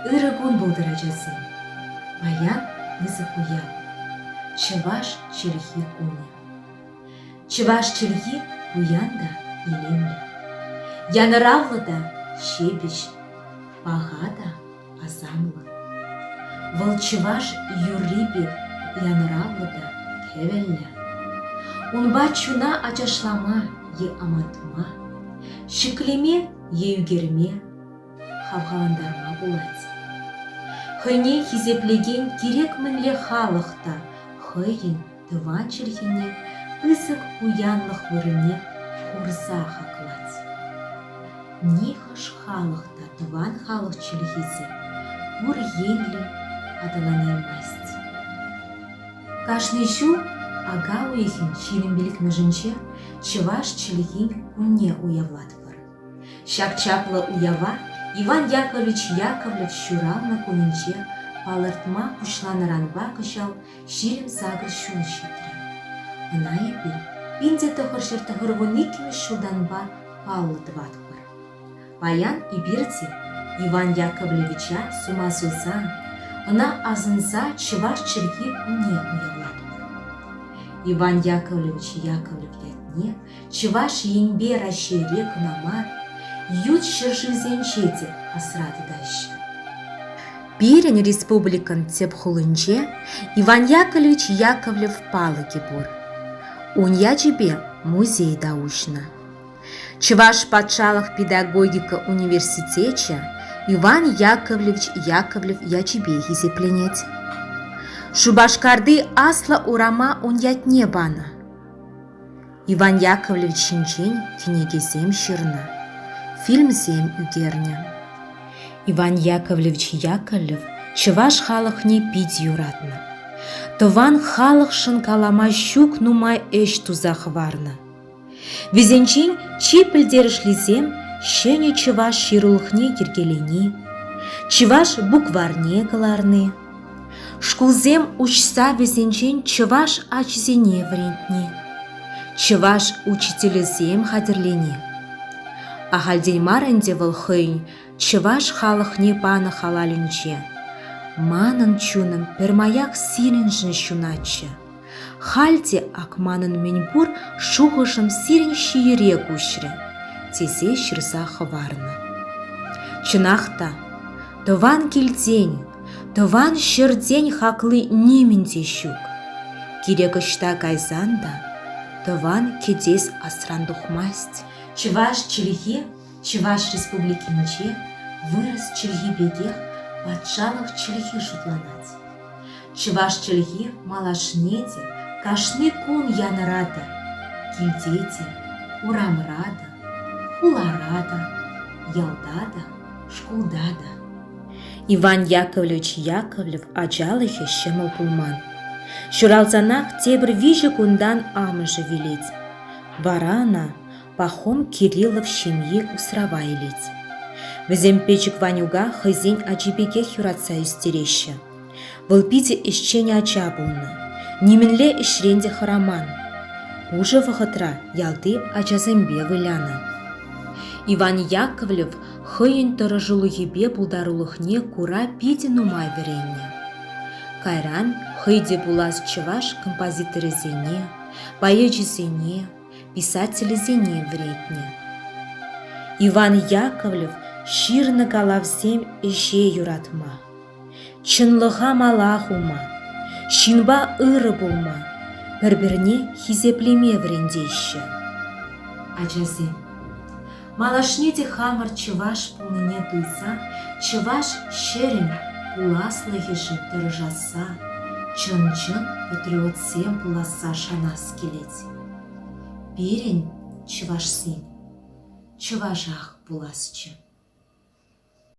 Ырӑ кун пултӑр, ачасем! Паян пысӑк уяв. Чӑваш чӗлхи кунӗ. Чӑваш чӗлхи пуян та илемлӗ. Янӑравлӑ та ҫепӗҫ, паха та Асамова. Вӑл чӑваш юрри пек янӑравлӑ та кӗвӗллӗ. Унпа чуна ачашлама е ӑмӑртма, ҫӗклеме е ӳкерме, хавхалантарма пулать. Хӑйне хисеплекен кирек мӗнле халӑх та хӑйӗн тӑван чӗлхене пысӑк пуянлӑх вырӑнне хурса хаклать. Нихӑш халӑх та тӑван халӑх чӗлхисе пур енлӗ аталанаймасть. Кашни ҫул ака уйӑхӗн ҫирӗмпелӗкмӗшӗнче чӑваш чӗлхин кунне уявлатпӑр. Ҫак чаплӑ уява Иван Яковлевич Яковлев ҫуралнӑ кунӗнче палӑртма пуҫланӑранпа кӑҫал ҫирӗм-сакӑр ҫул ҫитрӗ. Ӑна эпир пин-те тӑхӑрҫӗр тӑхӑрвун иккӗмӗш ҫултанпа паллӑ тӑватпӑр. Паян эпир те Иван Яковлевича сума сусан, ӑна асӑнса чӑваш чӗлхи кунне уявлатпӑр. Иван Яковлевич Яковлев ятне Чӑваш Енпе Раҫҫейре кӑна мар, ют ҫӗршывсенче те асра тытаҫҫӗ. Пирӗн республикӑн тӗп хулинче Иван Яковлевич Яковлев палӑкӗ пур. Ун ячӗпе музей та уҫнӑ. Чӑваш патшалӑх педагогика университечӗ Иван Яковлевич Яковлев ячӗпе хисепленет. Шупашкарти Аслӑ урама ун ятне панӑ. Иван Яковлевич ҫинчен кӗнекесем ҫырнӑ, фильмсем ӳкернӗ. Иван Яковлевич Яковлев чӑваш халӑхне пит юратнӑ. Тӑван халӑхшӑн калама ҫук нумай ӗҫ туса хӑварнӑ. Вӗсенчен чи пӗлтерӗшлисем ҫӗнӗ чӑваш ҫырулӑхне йӗркелени, чӑваш букварьне кӑларни, Шкулсем уҫса вӗсенчен чӑваш ачисене вӗрентни, чӑваш учителӗсем хатӗрлени. Ахальтен мар ӗнтӗ вӑл хӑйӗн чӑваш халӑхне панӑ халалӗнче манӑн чунӑм пӗрмаяк сирӗншӗн ҫунатчӗ. «Халь те ак манӑн мӗнпур шухӑшӑм сирӗн ҫийӗре куҫрӗ», тесе ҫырса хӑварнӑ. Чӑнах та, тӑван килтен, тӑван ҫӗртен хакли нимӗн те ҫук. Кирек ӑҫта кайсан та тӑван кӗтес асран тухмасть. Чӑваш чӗлхи Чӑваш Республики мучи вырӑс чӗлхи пекех патшалӑх чӗлхи шутланать. Чӑваш чӗлхи малашне те кашни кун янӑратӑр. Килте те, урамра та, хулара та, ялта та, шкулта та. Иван Яковлевич Яковлев ачалӑхӗ ҫӑмӑл пулман. Ҫуралсанах тепӗр виҫӗ кунтан амӑшӗ вилет. Вара ӑна Пахом Кириллов ҫемйи усрава илет. Вӗсем пӗчӗк Ванюка хӑйсен ачи пекех юратса ӳстереҫҫӗ. Вӑл питӗ ӗҫчен ача пулнӑ, нимӗнле ӗҫрен те хӑраман. Пушӑ вӑхӑтра ялти ачасемпе вылянӑ. Иван Яковлев хӑйӗн тӑрӑшулӑхӗпе пултарулӑхне кура питӗ нумай вӗреннӗ. Кайран хӑй те пулас чӑваш композиторӗсене, поэчӗсене, писателӗсене вӗретнӗ. Иван Яковлев ҫырнӑ калавсем ӗҫе юратма, чӑнлӑха мала хума, ҫынпа ырӑ пулма, пӗр-пӗрне хисеплеме вӗрентеҫҫӗ. Ачасем, малашне те хамӑр чӑваш пулнине туйса, чӑваш ҫӗрӗн пуласлӑхӗшӗн тӑрӑшасса, чӑн-чӑн патриотсем пуласса шанас килет. Пирӗн, чӑвашсен, чӑвашах пуласчӗ.